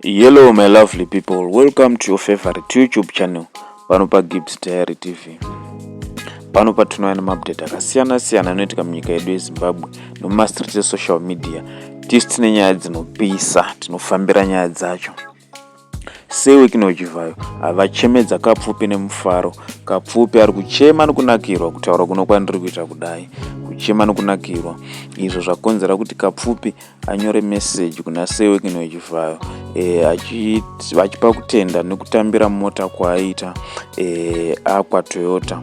Hello my lovely people, welcome to your favorite YouTube channel pano pa Gibbs Diary TV. Pano patinouya nemaupdate akasiyana siyana anoitika munyika yedu yeZimbabwe nemumastreet esocial media tisu tine nyaya dzinopisa tinofambira nyaya dzacho sewekinochivhayo havachemedza kapfupi nemufaro kapfupi ari kuchema nekunakirwa kutaura kuno kwandiri kuita kudai kuchema nekunakirwa izvo zvakonzera kuti kapfupi anyore message kuna sewekino wechivhayo e, achipa kutenda nekutambira mota kwaaiita e, akwa toyota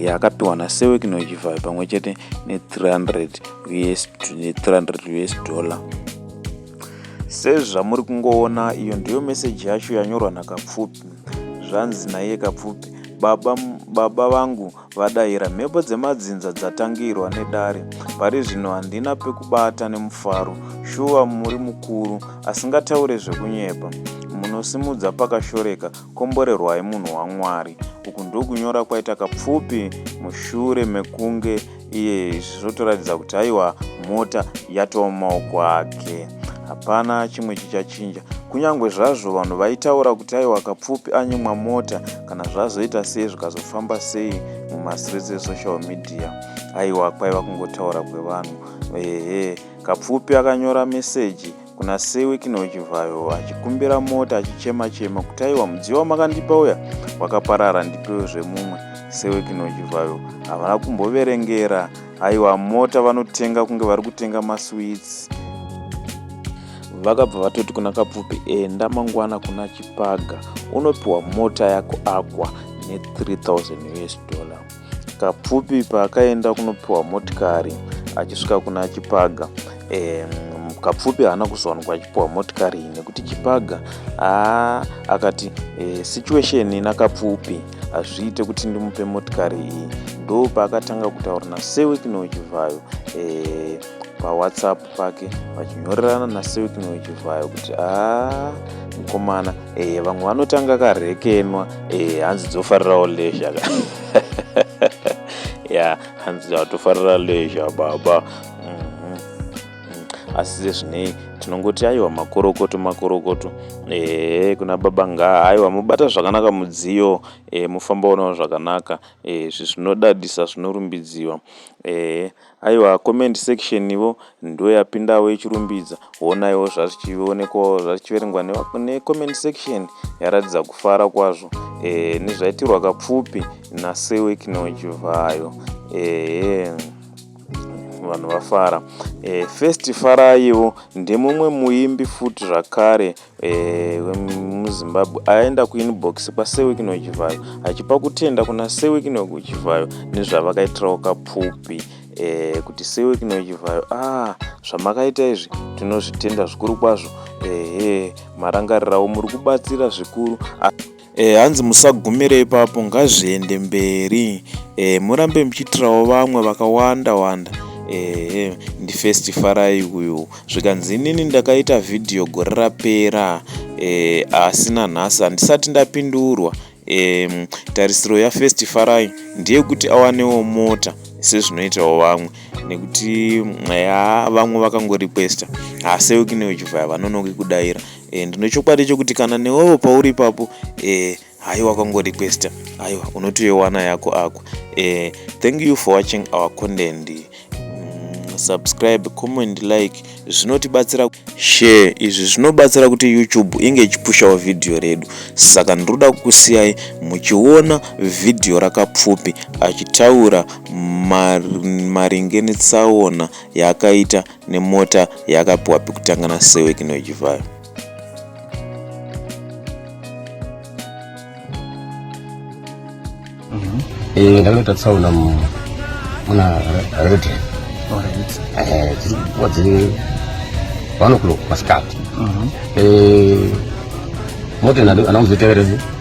e, akapiwa nasewekino wechivhayo pamwe chete ne300 us, ne 300 us dollar sezvamuri kungoona iyo ndiyo meseji yacho yanyorwa nakapfupi zvanzi naiye kapfupi baba, baba vangu Vadaira, mhepo dzemadzinza dzatangirwa nedare. Pari zvino handina pekubata nemufaro. Shuwa muri mukuru asingataure zvekunyepa. Munosimudza pakashoreka, komborerwai munhu waMwari. Uku ndokunyora kwaita Kapfupi mushure mekunge iye izvi zvotoratidza kuti haiwa mota yatova mumaoko ake. Hapana chimwe chichachinja. Kunyange zvazvo vanhu vaitaura kuti aiwa Kapfupi anyimwa mota, kana zvazoita sei zvikazofamba sei mumastreets esocial media aiwa kwaiva kungotaura kwevanhu ehe kapfupi akanyora meseji kuna sewiki nochivhayo achikumbira mota achichema chema kuti aiwa mudziyo wamakandipa uya wakaparara ndipewo zvemumwe sewiki nochivhayo havana kumboverengera aiwa mota vanotenga kunge vari kutenga maswits vakabva vatoti kuna kapfupi enda mangwana kuna chipaga unopiwa mota yako akwa ne3000 us dollar kapfupi paakaenda kunopiwa motikari achisvika kuna chipaga e, kapfupi haana kuzowanikwa achipiwa motikari iyi nekuti chipaga aa akati e, situation ina kapfupi hazviite kuti ndimupe motikari iyi ndo paakatanga kutaura nasewekinouchivhayo e, pawhatsapp pake vachinyorerana nasilkn wechivhayo kuti aa mukomana ee vamwe vanotanga karhekenwa ee hanzi dzofarirawo lezha ka ya hanzi atofarira lezha baba mhm. asi sezvinei tinongoti aiwa makorokoto makorokoto ee kuna baba ngaa aiwa mobata zvakanaka mudziyo e, mofamba unawo zvakanaka e, zvinodadisa zvinorumbidziwa ee Aiwa comment section ivo ndoyapindawo yechirumbidza honaiwo zvazvichionekwawo zvachiverengwa necomment section yaratidza kufara kwazvo e, nezvaitirwa kapfupi nasewekinochivayo ehe vanhu vafara e, first faraiwo ndemumwe muimbi futi zvakare Eh, wemuzimbabwe aenda kuinbox kwasewikino chivhayo achipa kutenda kuna sewikino kuchivhayo nezvavakaitirawo kapfupi eh, kuti sewikino chivhayo a ah, zvamakaita izvi tinozvitenda zvikuru kwazvo ehe marangarirawo muri kubatsira zvikuru e, hanzi musagumire ipapo ngazviende mberi e, murambe muchiitirawo vamwe vakawanda wanda ehe ndifirst farai uyu zvikanzi inini ndakaita vhidhiyo gore rapera e, asi nanhasi handisati ndapindurwa e, tarisiro yafirst farai ndeyekuti awanewo mota sezvinoitawo vamwe nekuti ya vamwe vakangorequesta haseuki neuchivaya vanonoki kudaira e, ndine chokwadi chokuti kana newewo pauri ipapo e, hayi wakangorequesta aiwa unotoiwana yako ako e, thank you for watching our content mm, subscribe comment like zvinotibatsira share izvi zvinobatsira kuti youtube inge ichipushawo vhidhiyo redu saka ndinoda kukusiyai muchiona vhidhiyo rakapfupi achitaura maringe netsaona yaakaita nemota yaakapiwa pekutanga naSewek Nojivayo. Eh, ndakanoita tsaona muna redre eh, dziri kuwa dziri one o'clock masikati mhm. eh, mota anakuzoteverezi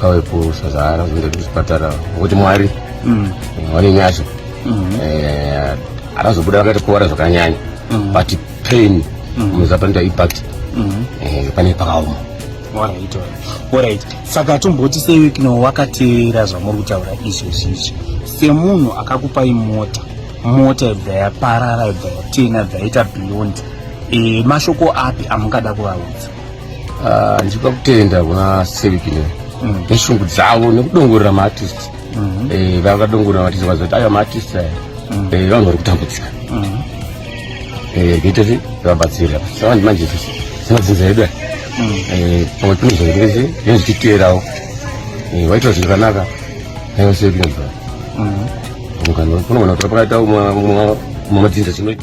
pave kusazara kuenda kuchipatara ngokuti mwari mm. vane nyasha mm-hmm. eh, akazobuda vakaita kuvara zvakanyanya mm-hmm. but pain mm-hmm. muzapanoita impact eh, pane pakaoma orit orit saka tomboti sewekino wakateera zvamuri kutaura izvo zvizvi semunhu akakupai mota mota ibva yaparara ibva yatena ibva yaita beyond eh, mashoko api amungada kuvaudza Ah, ndipa kutenda kuna sevikine mm. neshungu dzavo nekudongorera maartist mm-hmm. eh, vakadongorera maartist vazoti aya maartist aya mm. eh, vanhu vari kutambudzika mm-hmm. eh, kuita se vabatsira savandi manje zvinodzinza yedu aya mm. pamwe pino zvaitese zvine zvichiteerawo waitira zvinhu zvakanaka aiwa sevikine bva mm-hmm. kunogona kutora pakaita mumwe madzinza chinoita